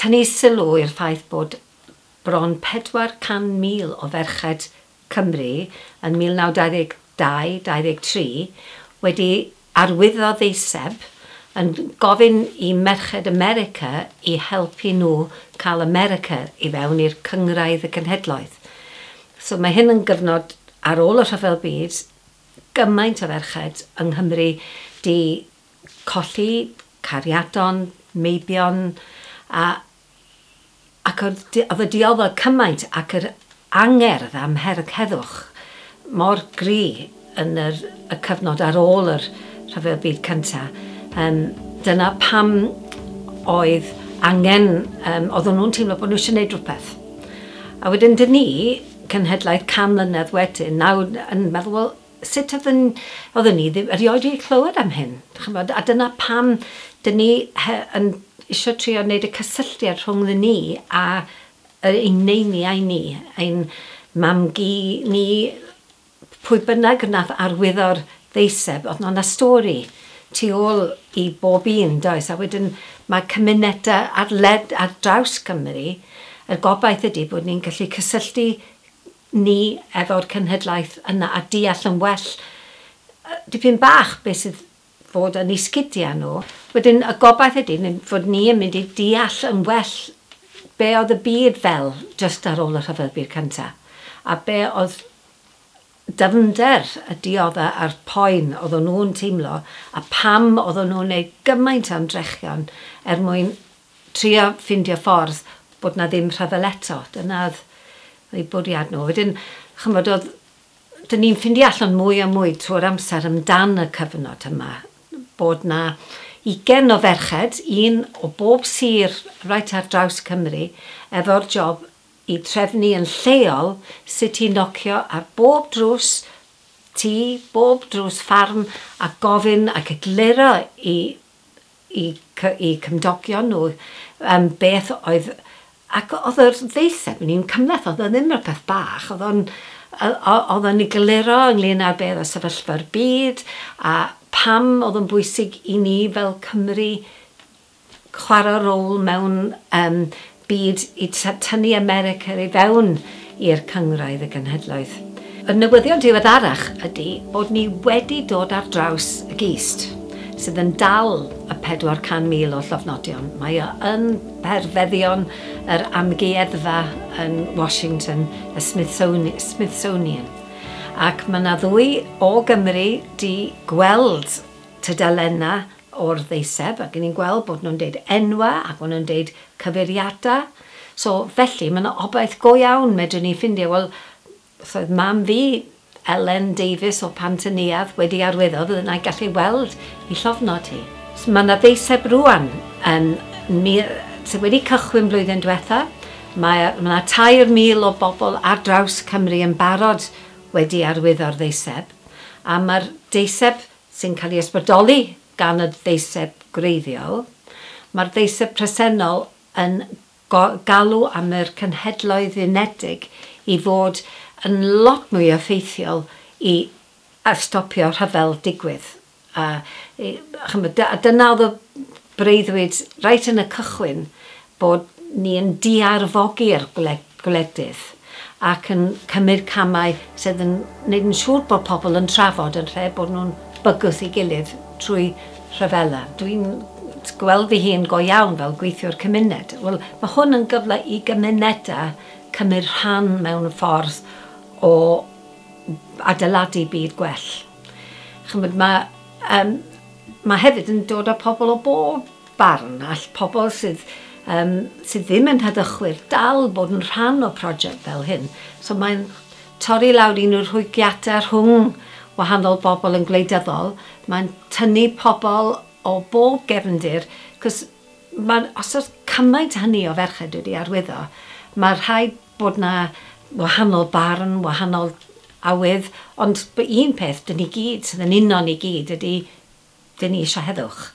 tynnu sylw i'r ffaith bod bron 400,000 o ferched Cymru yn 1922-23 wedi arwyddo ddeiseb yn gofyn i merched America i helpu nhw cael America i fewn i'r Cynghrair y Cenhedloedd. So mae hyn yn gyfnod ar ôl y Rhyfel Byd, gymaint o ferched yng Nghymru 'di colli cariadon, meibion, a, ac oedd, oedd y diofel cymaint ac yr angerdd am herwg heddwch mor gry yn yr, y cyfnod ar ôl yr Rhyfel Byd Cynta', yym, dyna pam oedd angen, yym, oedden nhw'n teimlo bod nhw eisiau gwneud rhywbeth. A wedyn dyn ni, cenhedlaeth can mlynedd wedyn, nawr yn meddwl, wel, Sut oedden, oedden ni ddim erioed wedi clywed am hyn, ch'mod, a dyna pam 'dyn ni he- yn isio trio neud y cysylltiad rhwngddyn ni a yy ein neiniau ni, ein mam-gu ni, p- pwy bynnag nath arwyddo'r ddeiseb, o'dd 'na 'na stori tu ôl i bob un, does? A wedyn ma' cymuneda ar led- ar draws Cymru, y gobaith ydi bod ni'n gallu cysylltu ni efo'r cenhedlaeth yna a deall yn well dipyn bach beth sydd fod yn eu sgidiau nhw. Wedyn y gobaith ydy fod ni yn mynd i deall yn well be oedd y byd fel jyst ar ôl y Rhyfel Byd Cyntaf a be oedd dyfnder y dioddef a'r poen oedden nhw'n teimlo a pam oedden nhw'n wneud gymaint o ymdrechion er mwyn trio ffindio ffordd bod 'na ddim rhyfel eto, dyna oedd eu bwriad nhw. Wedyn, ch'mod, oedd... 'dyn ni'n ffindio allan mwy a mwy trwy'r amser amdan y cyfnod yma, bod 'na ugain o ferched, un o bob sir reit ar draws Cymru, efo'r job i trefnu yn lleol sut i nocio ar bob drws tŷ, bob drws ffarm, a gofyn ac egluro i eu cymdogion nhw yym beth oedd... ac oedd yr ddeiseb yn un cymhleth, oedd o ddim rhywbeth bach, oedd o'n oedd o'n egluro ynglŷn â be oedd y sefyllfa'r byd a pam oedd o'n bwysig i ni fel Cymry chwarae rôl mewn yym byd i tynnu America i fewn i'r Cynghrair y Genhedloedd. Y newyddion diweddarach ydy bod ni wedi dod ar draws y gist sydd yn dal y 400,000 o llofnodion. Mae o yn perfeddion yr amgueddfa yn Washington, y Smithsonian. Ac mae 'na ddwy o Gymry 'di gweld tudalennau o'r ddeiseb ac ni'n gweld bod nhw'n deud enwau ac maen nhw'n deud cyfeiriadau. So, felly, mae yna obaith go iawn medrwn ni ffindio, wel, os oedd mam fi, Elen Davies o Pant y Neuadd, wedi arwyddo, fydden i gallu ei weld ei llofnod hi. So, mae yna ddeiseb rŵan yn mil... sydd wedi cychwyn blwyddyn diwetha'. Mae yna 3,000 o bobl ar draws Cymru yn barod wedi arwyddo'r ddeiseb, a mae'r deiseb sy'n cael ei ysbrydoli gan y ddeiseb gwreiddiol, mae'r ddeiseb presennol yn galw am yr Cenhedloedd Unedig i fod yn lot mwy effeithiol i stopio rhyfel digwydd. A ch'mod, dyna oedd y Breuddwyd reit yn y cychwyn bod ni yn diarfogi'r gwledydd ac yn cymryd camau sydd yn wneud yn siŵr bod pobl yn trafod yn lle bod nhw'n bygwth ei gilydd trwy rhyfela. Dwi'n gweld fy hun go iawn fel gweithiwr cymuned. Wel, mae hwn yn gyfle i gymunedau cymryd rhan mewn ffordd o adeiladu byd gwell. Ch'mod, ma' yym ma' hefyd yn dod â pobl o bob barn, all pobl sydd yym sydd ddim yn heddychwyr dal bod yn rhan o project fel hyn. So mae'n torri lawr un o'r rhwygiadau rhwng wahanol bobl yn gwleidyddol, mae'n tynnu pobl o bob gefndir, 'c'os ma' os o's cymaint hynny o ferched wedi arwyddo, ma' rhaid bod yna wahanol barn, wahanol awydd, ond bod un peth dan ni gyd, sydd yn uno ni gyd, ydy dan ni eisiau heddwch.